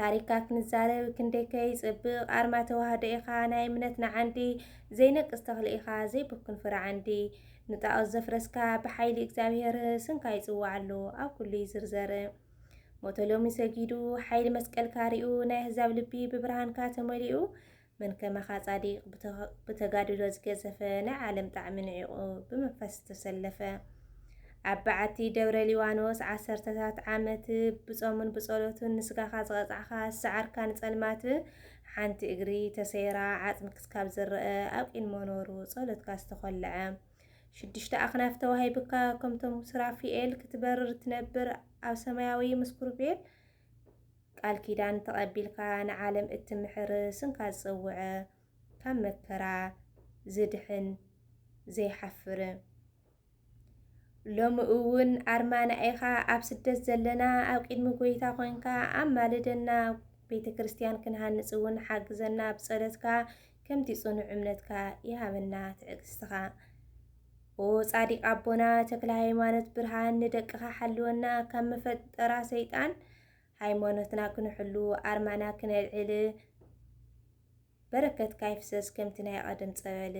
ታሪካ ክንዛረብ ክንደይከ ይጽብቕ ኣርማ ተዋህዶ ኢኻ ናይ እምነትና ዓንዲ ዘይነቅስ ተኽሊ ኢኻ ዘይብኩን ፍረ ዓንዲ ንጣዖት ዘፍረስካ ብሓይሊ እግዚኣብሔር ስምካ ይጽዋዓሉ ኣብ ኩሉ ይዝርዘር ሞቶ ሎሚ ሰጊዱ ሓይሊ መስቀልካ ሪኡ ናይ ኣህዛብ ልቢ ብብርሃንካ ተመሊኡ መን ከማኻ ጻዲቅ ብተጋድሎ ዝገዘፈ ናይ ዓለም ጣዕሚ ንዒቑ ብመንፈስ ዝተሰለፈ ኣብ በዓቲ ደብረ ሊባኖስ ዓሰርተታት ዓመት ብጾሙን ብጸሎቱን ንስጋኻ ዝቐጻዕኻ ዝሰዓርካ ንጸልማት ሓንቲ እግሪ ተሰይራ ዓጽሚ ክስካብ ዝረአ ኣብ ቂን መኖሩ ጸሎትካ ዝተኾልዐ ሽዱሽተ ኣኽናፍ ተዋሂብካ ከምቶም ሱራፊኤል ክትበርር ትነብር ኣብ ሰማያዊ ምስ ኩርቤል ቃል ኪዳን ተቐቢልካ ንዓለም እትምሕር ስምካ ዝጸውዐ ካብ መከራ ዝድሕን ዘይሓፍር ሎሚ እውን ኣርማና ኢኻ ኣብ ስደት ዘለና ኣብ ቅድሚ ጎይታ ኮንካ ኣማልደና ቤተ ክርስቲያን ክንሃንጽ እውን ሓግዘና ብጸለትካ ከምቲ ጽኑዕ እምነትካ ይሃበና ትዕግስትኻ። ኦ ጻዲቅ ኣቦና ተክለ ሃይማኖት ብርሃን ንደቅኻ ሓልወና ካብ መፈጠራ ሰይጣን ሃይማኖትና ክንሕሉ ኣርማና ክነልዕል በረከትካ ይፍሰስ ከምቲ ናይ ቐደም ጸበል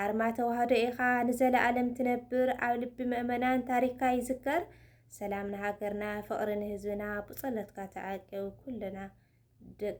ኣርማ ተዋህዶ ኢኻ ንዘለኣለም ትነብር ኣብ ልቢ ምእመናን ታሪካ ይዝከር ሰላም ንሃገርና ፍቕሪ ንህዝብና ብጸሎትካ ተዓቀብ ኩልና ደቂ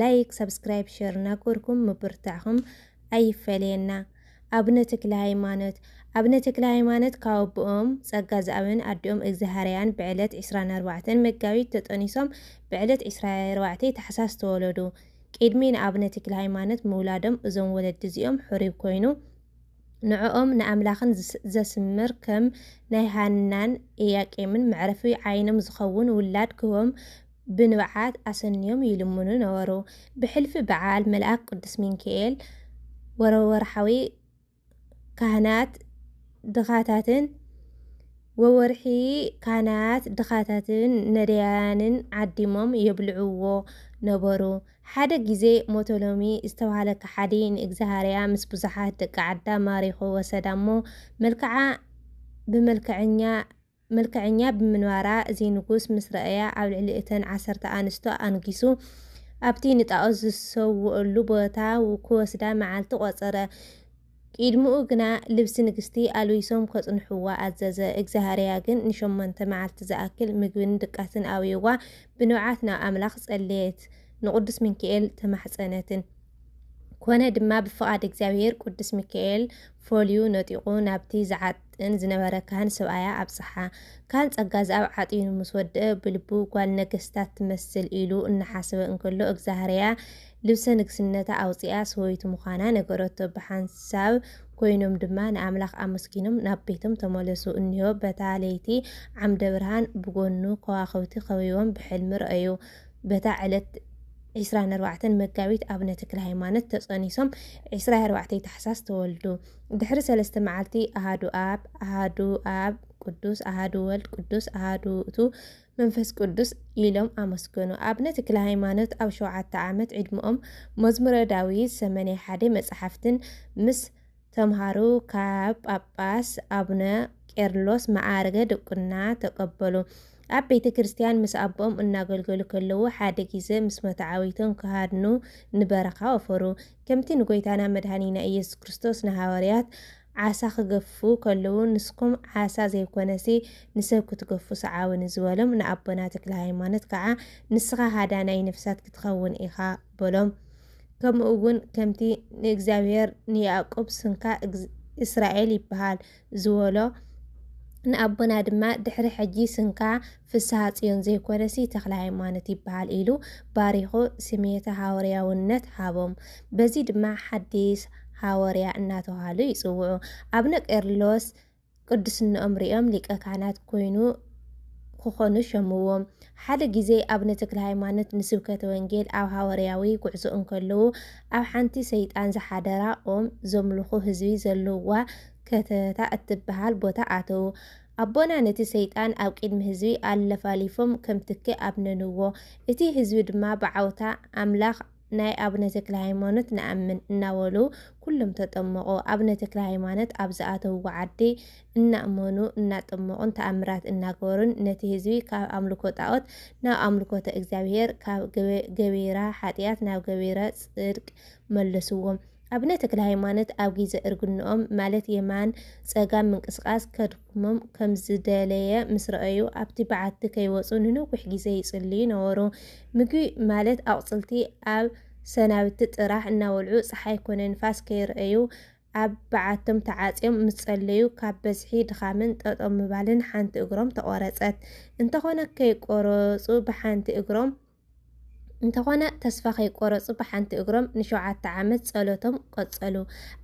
ላይክ ሳብስክራይብ ሸር ናጎርኩም ምብርታዕኹም ኣይፈለየና ኣብነ ተክለ ሃይማኖት ኣብነ ተክለ ሃይማኖት ካብ ኣቦኦም ጸጋ ዝኣብን ኣዲኦም እግዝሃርያን ብዕለት ዕስራን ኣርባዕተን መጋቢት ተጠኒሶም ብዕለት ዕስራ ኣርባዕተ ታሕሳስ ተወለዱ ቂድሚ ንኣብነ ተክለ ሃይማኖት ምውላዶም እዞም ወለዲ እዚኦም ሕሩይ ኮይኑ ንዕኦም ንኣምላኽን ዘስምር ከም ናይ ሃናን ኢያቄምን መዕረፊ ዓይኖም ዝኸውን ውላድ ክህቦም ብንብዓት ኣሰንዮም ይልምኑ ነበሩ። ብሕልፊ በዓል መልኣክ ቅዱስ ሚንኪኤል ወርሓዊ ካህናት ድኻታትን ወወርሒ ካህናት ድኻታትን ነዳያንን ዓዲሞም የብልዕዎ ነበሩ። ሓደ ግዜ ሞቶሎሚ ዝተባህለ ከሓዲ ንእግዝኣብሃርያ ምስ ብዙሓት ደቂ ዓዳ ማሪኹ ወሰዳ እሞ መልክዓ ብመልክዐኛ ምልክዐኛ ብምንባራ እዚ ንጉስ ምስ ረኣያ ኣብ ልዕሊ እተን ዓሰርተ ኣንስቱ ኣንጊሱ ኣብቲ ንጣኦት ዝሰውእሉ ቦታ ክወስዳ መዓልቲ ቆጸረ። ቂድምኡ ግና ልብሲ ንግስቲ ኣልቢሶም ከጽንሑዋ ኣዘዘ። እግዝኣብህርያ ግን ንሸሞንተ መዓልቲ ዝኣክል ምግብን ድቃስን ኣውዩዋ ብንብዓት ናብ ኣምላኽ ጸለየት ንቅዱስ ምንኪኤል ተማሕጸነትን። ኮነ ድማ ብፍቓድ እግዚኣብሔር ቅዱስ ሚካኤል ፈልዩ ነጢቑ ናብቲ ዝዓጥን ዝነበረ ካህን ሰብኣያ ኣብጽሓ። ካህን ጸጋዝኣብ ዓጢኑ ምስ ወድአ ብልቡ ጓል ነገስታት ትመስል ኢሉ እናሓሰበ እንከሎ እግዛህርያ ልብሰ ንግስነታ ኣውጺኣ ሰበይቱ ምዃና ነገረቶ። ብሓንሳብ ኮይኖም ድማ ንኣምላኽ ኣመስጊኖም ናብ ቤቶም ተመለሱ። እኒሆ በታ ለይቲ ዓምደ ብርሃን ብጎኑ ከዋኽብቲ ከቢቦም ብሕልሚ ረኣዩ። በታ ዕለት ዒስራን ኣርባዕተን መጋቢት ኣብነ ተክለ ሃይማኖት ተጸኒሶም ዒስራ ኣርባዕተይ ታሕሳስ ተወልዱ። ድሕሪ ሰለስተ መዓልቲ ኣሃዱ ኣብ ኣሃዱ ኣብ ቅዱስ ኣሃዱ ወልድ ቅዱስ ኣሃዱ ውእቱ መንፈስ ቅዱስ ኢሎም ኣመስገኑ። ኣብነ ተክለ ሃይማኖት ኣብ ሸውዓተ ዓመት ዕድመኦም መዝሙረ ዳዊት ሰመንያ ሓደ መጽሓፍትን ምስ ተምሃሩ ካብ ጳጳስ ኣቡነ ቄርሎስ መዓርገ ድቁና ተቀበሉ። ኣብ ቤተ ክርስቲያን ምስ ኣቦኦም እናገልገሉ ከለዉ ሓደ ጊዘ ምስ መተዓብይቶም ክሃድኑ ንበረኻ ወፈሩ። ከምቲ ንጎይታና መድኃኒና ኢየሱስ ክርስቶስ ንሃዋርያት ዓሣ ክገፉ ከለዉ ንስኩም ዓሣ ዘይኮነሲ ንሰብ ክትገፉ ሰዓቡኒ ዝበሎም ንኣቦና ተክለሃይማኖት ከዓ ንስኻ ሃዳናይ ነፍሳት ክትኸውን ኢኻ በሎም። ከምኡ እውን ከምቲ ንእግዚኣብሔር ንያዕቁብ ስንካ እስራኤል ይበሃል ዝበሎ ንኣቦና ድማ ድሕሪ ሕጂ ስንካ ፍስሃ ጽዮን ዘይኮነሲ ተክለ ሃይማኖት ይበሃል ኢሉ ባሪኹ ስሜተ ሃወርያውነት ሃቦም። በዚ ድማ ሓዲስ ሃወርያ እናተባህሉ ይጽውዑ። ኣብነ ቄርሎስ ቅድስንኦም ርእዮም ሊቀ ካህናት ኮይኑ ክኾኑ ሸምዎ። ሓደ ግዜ ኣቡነ ተክለሃይማኖት ንስብከተ ወንጌል ኣብ ሃወርያዊ ጉዕዞ እንከለዉ ኣብ ሓንቲ ሰይጣን ዝሓደራ ኦም ዘምልኹ ህዝቢ ዘለዉዋ ከተታ እትበሃል ቦታ ኣተዉ። ኣቦና ነቲ ሰይጣን ኣብ ቅድሚ ህዝቢ ኣለፋሊፎም ከም ትኪ ኣብነንዎ። እቲ ህዝቢ ድማ ብዓውታ ኣምላኽ ናይ ኣቡነ ተክለሃይማኖት ንኣምን እናበሉ ኩሎም ተጠመቑ። ኣቡነ ተክለሃይማኖት ኣብ ዝኣተውዎ ዓዲ እናእመኑ፣ እናጠመቑን ተኣምራት እናገበሩን ነቲ ህዝቢ ካብ ኣምልኮ ጣኦት ናብ ኣምልኮተ እግዚኣብሔር፣ ካብ ገቢረ ሓጥያት ናብ ገቢረ ጽድቅ መለስዎም። ኣቡነ ተክለሃይማኖት ኣብ ግዜ እርግንኦም ማለት የማን ጸጋም ምንቅስቓስ ከድኩ። ሞም ከም ዝደለየ ምስ ረኣዩ ኣብቲ በዓቲ ከይወጹ ንነዊሕ ግዜ ይጽልዩ ነበሩ። ምግቢ ማለት ኣቑጽልቲ ኣብ ሰናብቲ ጥራሕ እናበልዑ ጸሓይ ኮነ ንፋስ ከይረኣዩ ኣብ በዓቶም ተዓጽዮም ምስ ጸለዩ ካብ በዝሒ ድኻምን ጠጠው ምባልን ሓንቲ እግሮም ተቖረጸት። እንተኾነ ከይቆረጹ ብሓንቲ እግሮም። እንተኾነ ተስፋ ከይቆረጹ ብሓንቲ እግሮም ንሸውዓተ ዓመት ጸሎቶም ቀጸሉ።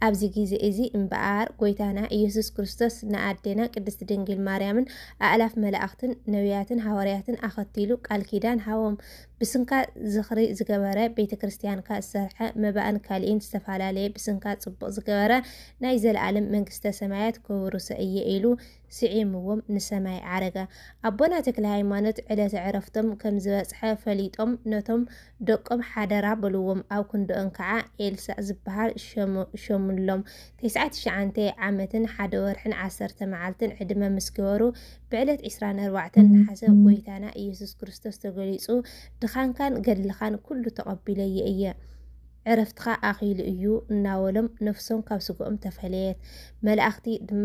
ኣብዚ ግዜ እዚ እምበኣር ጎይታና ኢየሱስ ክርስቶስ ንኣዴና ቅድስት ድንግል ማርያምን ኣእላፍ መላእኽትን ነቢያትን ሃዋርያትን ኣኸቲሉ ቃል ኪዳን ሃቦም። ብስንካ ዝኽሪ ዝገበረ ቤተ ክርስቲያንካ ዝሰርሐ መባእን ካልኢን ዝተፈላለየ ብስንካ ጽቡቕ ዝገበረ ናይ ዘለኣለም መንግስተ ሰማያት ከውርሶ እየ ኢሉ ስዒምዎም ንሰማይ ዓረገ። ኣቦና ተክለሃይማኖት ዕለተ ዕረፍቶም ከም ዝበጽሐ ፈሊጦም ነቶም ደቆም ሓደራ በልዎም። ኣብ ክንድኦም ከኣ ኤልሳእ ዝበሃል ሸሙሎም። ተስዓይ ትሽዓንተ ዓመትን ሓደ ወርሕን ዓሰርተ መዓልትን ዕድመ ምስ ገበሩ ብዕለት ዕስራን ኣርባዕተን ነሓሰ ጐይታና ኢየሱስ ክርስቶስ ተገሊጹ ድኻንካን ገድልኻን ኩሉ ተቐቢለዮ እየ። ዕረፍትኻ ኣኺሉ እዩ እናበሎም ነፍሶም ካብ ስግኦም ተፈለየት። መላእኽቲ ድማ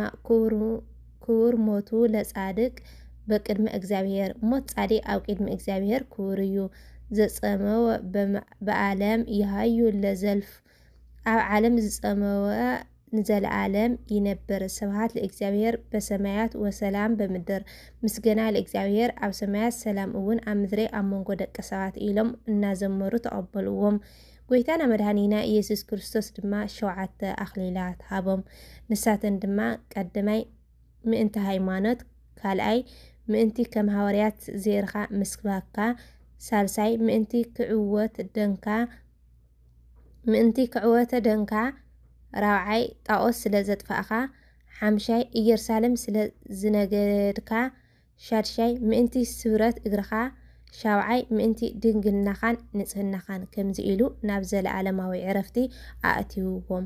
ክቡር ሞቱ ለጻድቅ በቅድመ እግዚኣብሔር፣ ሞት ጻድቅ ኣብ ቅድሚ እግዚኣብሔር ክቡር እዩ። ዘጸመወ በዓለም ይሃዩ ለዘልፍ፣ ኣብ ዓለም ዝጸመወ ንዘለኣለም ይነብር ስብሃት ለእግዚኣብሔር በሰማያት ወሰላም በምድር ምስገና ለእግዚኣብሔር ኣብ ሰማያት ሰላም እውን ኣብ ምድሪ ኣብ መንጎ ደቂ ሰባት ኢሎም እናዘመሩ ተቐበልዎም። ጎይታና መድኃኒና ኢየሱስ ክርስቶስ ድማ ሸውዓተ ኣኽሊላት ሃቦም። ንሳተን ድማ ቀድማይ ምእንቲ ሃይማኖት፣ ካልኣይ ምእንቲ ከም ሃዋርያት ዜርካ ምስባካ፣ ሳልሳይ ምእንቲ ክዕወት ደንካ፣ ምእንቲ ክዕወተ ደንካ ራብዓይ ጣኦስ ስለ ዘጥፋእካ ሓምሻይ እየርሳሌም ስለ ዝነገድካ ሻድሻይ ምእንቲ ስብረት እግርኻ ሻብዓይ ምእንቲ ድንግልናኻን ንጽህናኻን ከምዚ ኢሉ ናብ ዘለኣለማዊ ዕረፍቲ ኣእትይዎም።